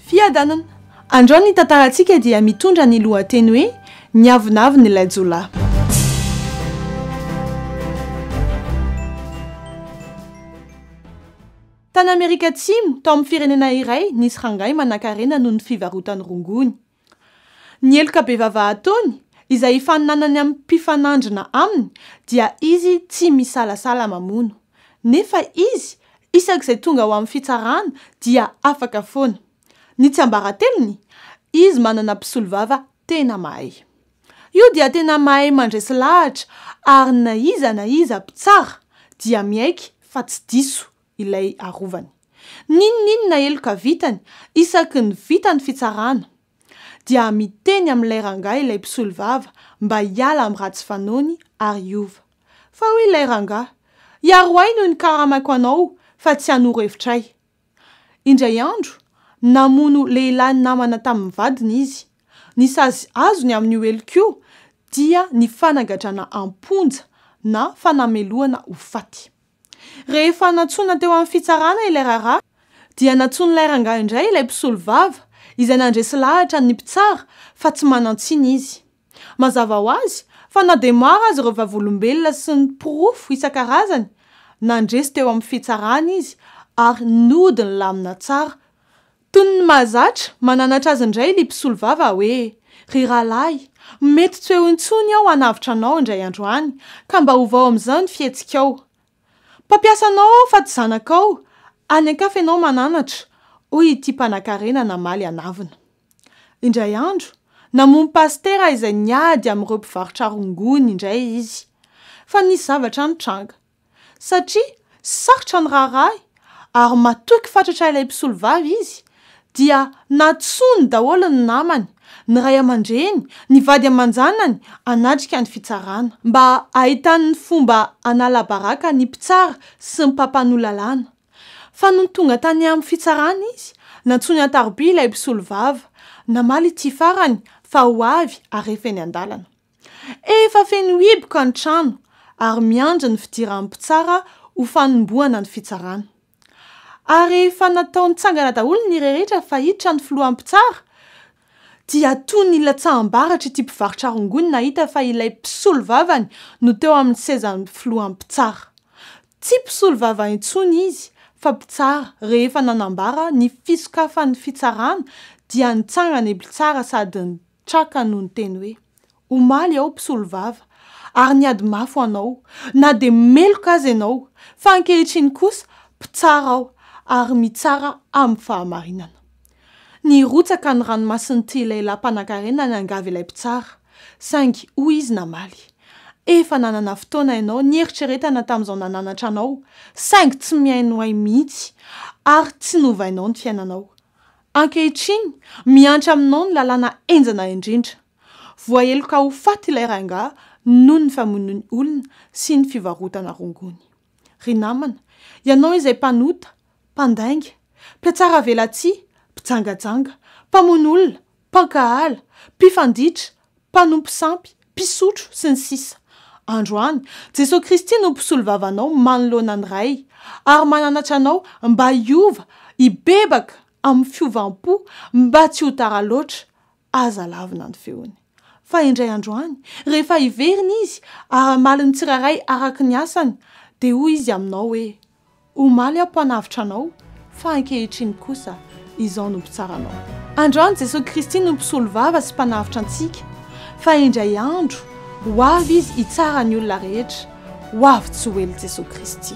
Fiadanana. Androany ny tantarantsika dia mitondra ny lohateny hoe Ny avonavon'ilay jiolahy. Tany Amerika Atsimo, tao amin'ny firenena iray, nisy rangahy manankarena noho ny fivarotan'ny rongony. Ny heloka bevava ataony, izay hifaninanany amin'ny mpifanandrina aminy, dia izy tsy misalasala mamono. Nefa izy, isak'izay tonga ao amin'ny fitsarana, dia afaka foana. Ny tsiambaratelony, izy manana mpisolovava tena mahay. Io dia tena mahay mandresy lahatra, ary na iza na iza mpitsara dia miaiky fa tsy diso ilay arovany. N'inon'inona heloka vitany, isaky ny vita ny fitsarana, dia miteny amin'ilay rangahy ilay mpisolovava mba hiala amin'ny ratsy fanaony ary hiova. Fa hoy ilay rangahy, Hiaro ahy no nikaramako anao fa tsy hanoro hevitra ahy. Indray andro, namono lehilahy namana tamin'ny vadiny izy. Ny sazy azony amin'io heloka io dia ny fanagadrana am-ponja na fanamelohana ho faty. Rehefa nantsoina teo amin'ny fitsarana ilay raharaha, dia nantsoin'ilay rangahy indray ilay mpisolovava, izay nandresy lahatra ny mpitsara fa tsy manan-tsiny izy. Mazava ho azy fa na dia maro aza ireo Vavolombelona sy ny porofo isan-karazany nandresy teo amin'ny fitsarana izy ary nody nilamina tsara Toy ny mahazatra mananatra azy indray ily mpisolovava hoe, Ry rahalahy, mety tsy ho eo intsony aho hanavotra anao indray andro any, ka mba ovao amin'izao ny fihetsikao. Mpampiasanao aho fa tsy zanakao, any an-kafa ianao mananatra, hoy ity mpanankarena namaly an'avona. Indray andro, namono pasitera izay niady amin'ireo mpivarotra rongony indray izy. Fa nisy zavatra nitranga. satria sarotra ny raharahy ary matoky fatratra ilay mpisolovava izy dia nantsoiny daholo ny namany, ny ray aman-dreny, ny vady aman-janany hanatrika ny fitsarana mba hahitany ny fomba hanala baraka ny mpitsara sy ny mpampanoa lalàna. Fa nony tonga tany amin'ny fitsarana izy, nantsoiny an-tarobia ilay mpisolovava, namaly ity farany fa ho avy harefa eny an-dalana. Efa feno hiboka ny trano ary miandry ny fidiran'ny mpitsara ho fanombohana ny fitsarana. Ary rehefa natao nitsangana daholo ny rehetra fa hiditra ny filohan'ny mpitsara dia toa nilatsaham-baratra ity mpivarotra rongony nahita fa ilay mpisolovavany no teo amin'ny sezan'ny filohan'ny mpitsara. Tsy mpisolovava intsony izy fa mpitsara rehefa nanambara ny fisokafan'ny fitsarana dia nitsangana i mpitsara sady Traka no niteny hoe, Omaly aho mpisolo vava, ary niady mafy ho anao, na dia meloka aza ianao, fa ankehitriny kosa mpitsara aho, ary mitsara amin'ny fahamarinana. Nirotsaka ny ranomasin'ity lehilahy mpanankarena niangavy ilay mpitsara, saingy hoy izy namaly, Efa nanana fotoana ianao nieritreretana tamin'izao nananatra anao, saingy tsy mihainoay mihitsy, ary tsy novainao ny fiainanao. Ankehitriny, mihantra aminao ny lalàna henjana indrindra. Voaheloka ho faty ilay rangahy noho ny famonoany olona sy ny fivarotana rongony. Ry namana, ianao izay mpanota, mpandainga, mpiatsaravelatsihy, mpijangajanga, mpamono olona, mpankahala, mpifanditra, mpanompo sampy, mpisotro, sy ny sisa Androany, Jesoa Kristy no Mpisolo vavanao manoloana ny Ray, ary mananatra anao mba hiova, hibebaka amin'ny fiovam-po, mba tsy ho tara loatra, aza lavina ny feony. Fa indray androany, rehefa hiverina Izy, ary hamaly ny tsirairay araka ny asany, dia hoy Izy aminao hoe, Omaly aho mpanavotra anao, fa ankehitriny kosa izao no mpitsara anao. Androany Jesoa Kristy no mpisolovava sy mpanavotra antsika, fa indray andro ho avy Izy hitsara ny olona rehetra. Ho avy tsy ho ela Jesoa Kristy.